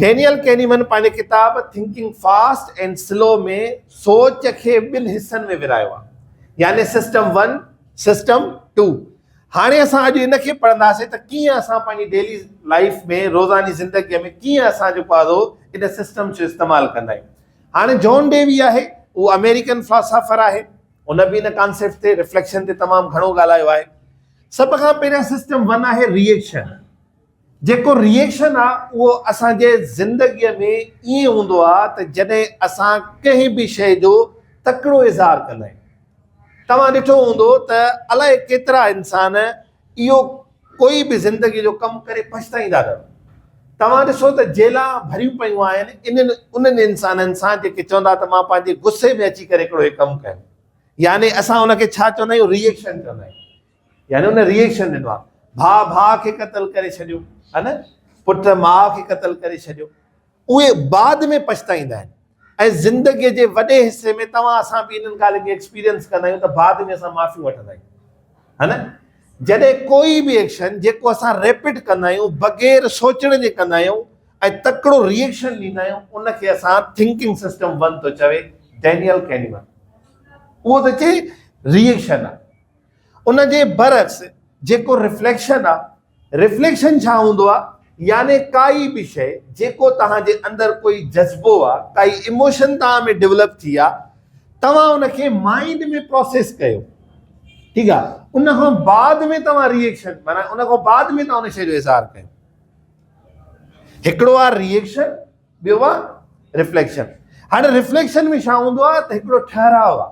Daniel ڪينيمن پنهنجي ڪتاب Thinking Fast and Slow ۾ سوچ کي ٻن حصن ۾ ورهايو آهي يعني سسٽم ون سسٽم ٽو هاڻي اسان اڄ ان کي پڙهنداسين ته ڪيئن اسان پنهنجي ڊيلي لائيف ۾ روزاني زندگي ۾ ڪيئن اسان جيڪو آهي ان سسٽم جو استعمال ڪندا آهيون هاڻي جون ڊيوي آهي هو آمريڪن فلاسافر آهي هن به ان ڪانسيپٽ تي رفليڪشن تي تمام گهڻو ڳالهايو آهي سڀ کان پهريان سسٽم ون آهي ريئيڪشن جيڪو ريئيڪشن آ اهو اسان جي زندگي ۾ ائين هوندو آ ته جڏهن اسان ڪنهن به شيء جو تڪڙو اظهار ڪندا آهيون. توهان ڏٺو هوندو ته الائي ڪيترا انسان اهو ڪوئي به زندگي جو ڪم ڪري پڇتائيندا نه هوندا. توهان ڏسو ته جيلان ڀريون پيون آهن انهن انهن انسانن سان جيڪي چوندا ته مان پنهنجي غصي ۾ اچي ڪري هڪڙو هي ڪم ڪيم يعني اسان ان کي ڇا چوندا آهيون ريئيڪشن چوندا آهيون. يعني ان ريئيڪشن ڏنو آهي ڀاء ڀاء کي قتل ڪري ڇڏيو ها نه پٽ ماء کي قتل ڪري ڇڏيو اهي بعد ۾ پڇتائيندا آهن ۽ زندگي جي وڏي حصي ۾ توهان اسان به انهن ڳالهين کي ايڪسپيرينس ڪندا آهيون ته بعد ۾ اسان معافيون وٺندا آهيون ها نه جڏهن ڪوئي به ايڪشن جيڪو اسان ريپيٽ ڪندا آهيون بغير سوچڻ جي ڪندا آهيون ۽ تڪڙو ريئيڪشن ڏيندا آهيون ان کي اسان ٿنڪنگ سسٽم ون ٿو چوي ڊينيل ڪينيمن اهو ته چي ريئيڪشن آهي ان جي برعڪس جيڪو رفليڪشن آ، رفليڪشن ڇا هوندو آ؟ يعني ڪائي به شئي جيڪو توهان جي اندر ڪوئي جذبو آ، ڪائي ايموشن توهان ۾ ڊولپ ٿي آ، توهان ان کي مائنڊ ۾ پروسيس ڪيو، ٺيڪ آ، ان کان بعد ۾ توهان ري ايڪشن معنيٰ ان کان بعد ۾ توهان ان شئي جو اظهار ڪيو. هڪڙو آ ري ايڪشن، ٻيو آ رفليڪشن. هاڻي رفليڪشن ۾ ڇا هوندو آ ته هڪڙو ٺهراء آ.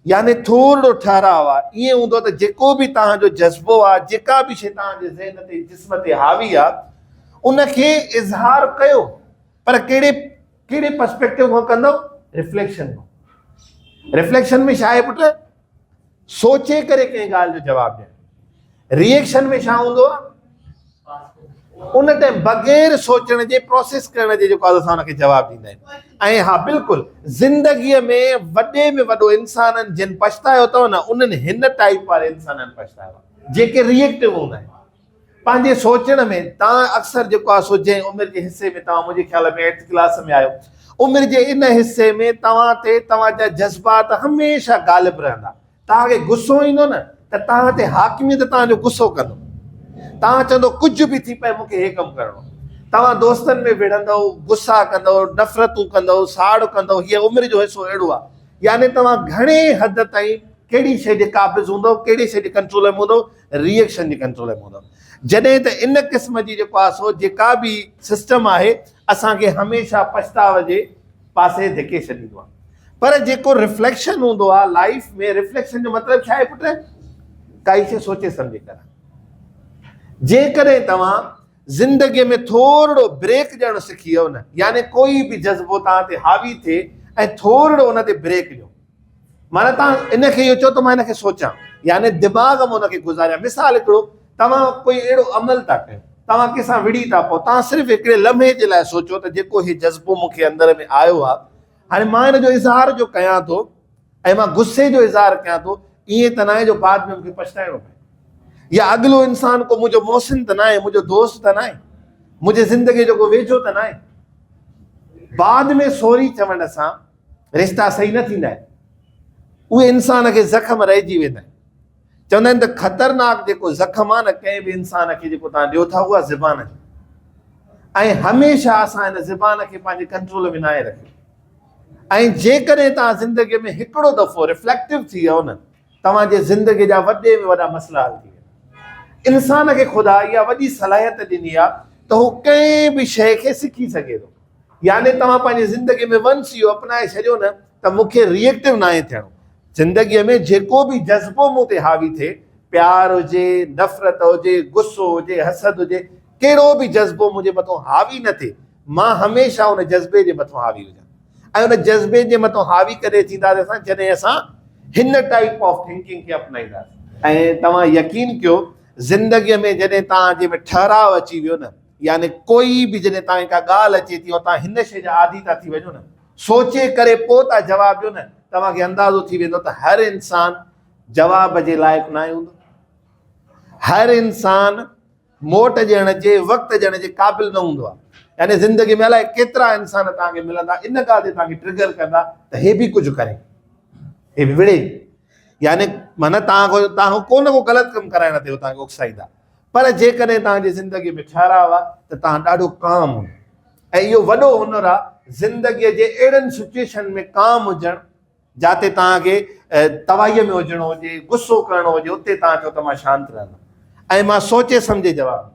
يعني ٿورڙو ٺهراء آ، ائين هوندو ته جيڪو به توهان جو جذبو آ، جيڪا به شيء توهان جي ذهن تي جسم تي حاوي آ، ان کي اظهار ڪيو، پر ڪهڙي ڪهڙي پرسپيڪٽو کان ڪندؤ؟ ريفليڪشن کان. ريفليڪشن ۾ ڇا آهي پٽ؟ سوچي ڪري ڪنهن ڳالهه جو جواب ڏيڻ. ريئيڪشن ۾ ڇا هوندو آهي ان ٽائم بغير سوچڻ جي پروسيس ڪرڻ جي جيڪو اسان ان کي جواب ڏيندا آهيون ۽ ها بلڪل زندگيء ۾ وڏي ۾ وڏو انسانن جن پڇتايو اٿو نه انهن هن ٽائيپ واري انسانن پڇتايو آهي جيڪي ريئيڪٽو هوندا آهن پنهنجي سوچڻ ۾ تان اڪثر جيڪو آهي سو جنهن عمر جي حصي ۾ توهان منهنجي خيال ۾ ايٽ ڪلاس ۾ آهيو عمر جي ان حصي ۾ توهان تي توهان جا جذبات هميشه غالب رهندا توهان کي غصو ايندو نه ته توهان تي حاڪميت توهان جو غصو ڪندو. توهان چوندو ڪجهه به ٿي پئي مون کي هي ڪم ڪرڻو. توهان دوستن ۾ وڙهندؤ، غصا ڪندؤ، نفرتون ڪندؤ، ساڙ ڪندؤ، هيء عمر جو حصو اهڙو آهي. يعني توهان گهڻي حد تائين ڪهڙي شيء جي قابض هوندؤ، ڪهڙي شيء جي ڪنٽرول ۾ هوندؤ، ري ايڪشن جي ڪنٽرول ۾ هوندؤ. جڏهن ته ان قسم جي جيڪو آسو جيڪا به سسٽم آهي اسان کي هميشه پڇتاء جي. پاسي ڌڪي ڇڏيندو آ پر جيڪو رفليڪشن هوندو آ لائيف ۾ رفليڪشن جو مطلب ڇا آهي پٽ ڪائي شي سوچي سمجهي ڪر جيڪڏهن توهان زندگي ۾ ٿورڙو بريڪ ڏيڻ سکي ويو نه يعني ڪوئي به جذبو توهان تي حاوي ٿئي ۽ ٿورڙو ان تي بريڪ ڏيو معنيٰ توهان ان کي اهو چئو ته مان ان کي سوچيان، يعني دماغ ۾ ان کي گذاريان. مثال هڪڙو، توهان ڪوئي اهڙو عمل ٿا ڪيو، توهان ڪنهن سان وڙهي ٿا پئو، توهان صرف هڪڙي لمحي جي لاء سوچيو ته جيڪو هي جذبو مون کي اندر ۾ آيو آهي، هاڻي مان ان جو اظهار جو ڪيان ٿو ۽ مان غصي جو اظهار ڪيان ٿو، ائين ته ناهي جو بعد ۾ مون کي پڇتائڻو پئي يا اڳلو انسان ڪو منهنجو محسن ته ناهي، منهنجو دوست ته ناهي، منهنجي زندگيء جو ڪو ويجهو ته ناهي. بعد ۾ سوري چوڻ سان رشتا صحيح نه ٿيندا آهن اهي انسان کي زخم رهجي ويندا آهن چوندا آهن ته خطرناڪ جيڪو زخم آهي نه ڪنهن به انسان کي جيڪو تان ڏيو ٿا اها زبان جو ۽ هميشه اسان هن زبان کي پنهنجي ڪنٽرول ۾ ناهي رکيو ۽ جيڪڏهن تان زندگي ۾ هڪڙو دفعو ريفليڪٽو ٿي ويو نه توهان جي زندگي جا وڏي ۾ وڏا مسئلا حل ٿي ويندا. انسان کي خدا اها وڏي صلاحيت ڏني آهي ته هو ڪنهن به شيء کي سکي سگهي ٿو. يعني توهان پنهنجي زندگي ۾ ونس اهو اپنائي ڇڏيو نه ته مون کي ريئيڪٽو ناهي ٿيڻو. زندگي ۾ جيڪو به جذبو مون تي حاوي ٿئي، پيار هجي، نفرت هجي، غصو هجي، حسد هجي، ڪهڙو به جذبو منهنجي مٿان حاوي نه ٿئي، مان هميشه ان جذبي جي مٿان حاوي هجان. ۽ ان جذبي جي مٿان حاوي ڪري ٿينداسين اسان جڏهن اسان هن ٽائيپ آف ٿنڪنگ کي اپنائينداسين. ۽ توهان يقين ڪيو زندگي ۾ جڏهن توهان جي ۾ ٺهراء اچي ويو نه يعني ڪوئي به جڏهن توهان کي ڪا ڳالهه اچي ٿي ۽ توهان هن شيء جا عادي ٿا ٿي وڃو نه سوچي ڪري پوء ٿا جواب ڏيو نه توهان کي اندازو ٿي ويندو ته هر انسان جواب جي لائق ناهي هوندو هر انسان موٽ ڏيڻ جي وقت ڏيڻ جي قابل نه هوندو آهي يعني زندگي ۾ الائي ڪيترا انسان توهان کي ملندا ان ڳالهه تي توهان کي ٽرگر ڪندا ته هي به ڪجهه ڪري هي به وڙهي يعني معنی توهان کي توهان کي ڪو نه ڪو غلط ڪم ڪرائڻ تي توهان کي اڪسائيندا پر جيڪڏهن توهان جي زندگي ۾ ٺهراء آهي ته توهان ڏاڍو ڪام هوندو ۽ اهو وڏو هنر آهي زندگي جي اهڙن سچويشن ۾ ڪام هجڻ جاتي توهان کي تباهيء ۾ هجڻو هجي، غصو ڪرڻو هجي، اتي توهان چئو ته مان شانت رهندم ۽ مان سوچي سمجهي جواب ڏيندم.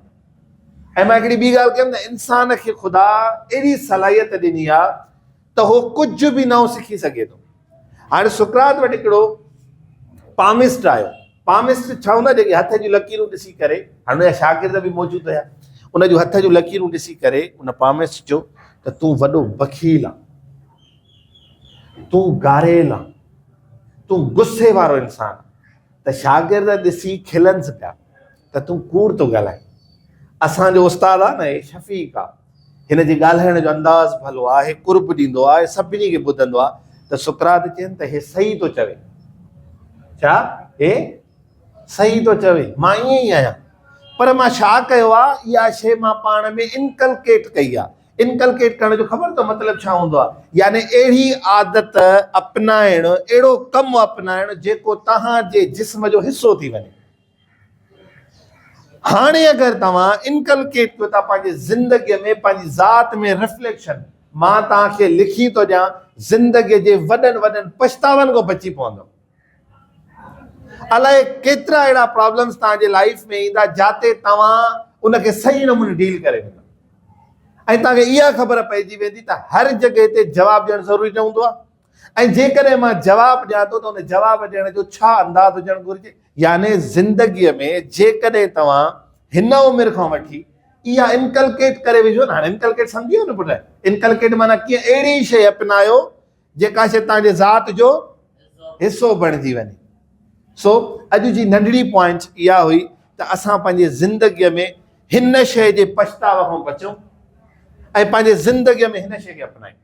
۽ مان هڪڙي ٻي ڳالهه ڪيم ته انسان کي خدا اهڙي صلاحيت ڏني آهي ته هو ڪجهه به نئون سکي سگهي ٿو. هاڻي سقراط وٽ هڪڙو پامسٽ آيو. پامسٽ ڇا هوندو آهي؟ جيڪي هٿ جون لڪيرون ڏسي ڪري، هاڻي ان جا شاگرد به موجود هيا، ان جون هٿ جون لڪيرون ڏسي ڪري ان پامسٽ چيو ته تون وڏو بخيل آهين. تون گاريل آن، تون غصي وارو انسان آن ته شاگرد ڏسي کلنس پيا ته تون ڪوڙ ٿو ڳالهائين. اسان جو استاد آ نه هي شفيق آ، هن جي ڳالهائڻ جو انداز ڀلو آ، هي قرب ڏيندو آ، هي سڀني کي ٻڌندو آ ته سقراط چين ته هي صحيح ٿو چوي. ڇا هي صحيح ٿو چوي؟ مان ائين ئي آهيان. پر مان ڇا ڪيو آ، اها شيء مان پاڻ ۾ انڪلڪيٽ ڪئي آ. Inculcate ڪرڻ جو خبر اٿو مطلب ڇا هوندو آهي؟ يعني اهڙي عادت اپنائڻ، اهڙو ڪم اپنائڻ جيڪو توهان جي جسم جو حصو ٿي وڃي. هاڻي اگر توهان Inculcate ڪيو ٿا پنهنجي زندگي ۾ پنهنجي ذات ۾ Reflection مان توهان کي لکي ٿو ڏيان زندگي جي وڏن وڏن پڇتاون کان بچي پوندؤ. الائي ڪيترا اهڙا پرابلمز توهان جي لائيف ۾ ايندا جاتي توهان ان کي صحيح نموني ڊيل ڪري ويندا ۽ توهان کي اها خبر پئجي ويندي ته هر جڳهه تي جواب ڏيڻ ضروري نه هوندو آهي ۽ جيڪڏهن مان جواب ڏيان ٿو ته ان جواب ڏيڻ جو ڇا انداز هجڻ گهرجي يعني زندگي ۾ جيڪڏهن توهان هن عمر کان وٺي اها انڪلڪيٽ ڪري وجهو نه هاڻي انڪلڪيٽ سمجهي ويو نه پٽ انڪلڪيٽ معنيٰ ڪيئن اهڙي شيء اپنايو جيڪا شيء تنهن جي ذات جو حصو بڻجي وڃي سو اڄ جي ننڍڙي پوائنٽ اها هئي ته اسان پنهنجي زندگيء ۾ هن شيء جي پڇتاء کان بچون ۽ پنهنجي زندگيء ۾ هن شيء کي اپنائيون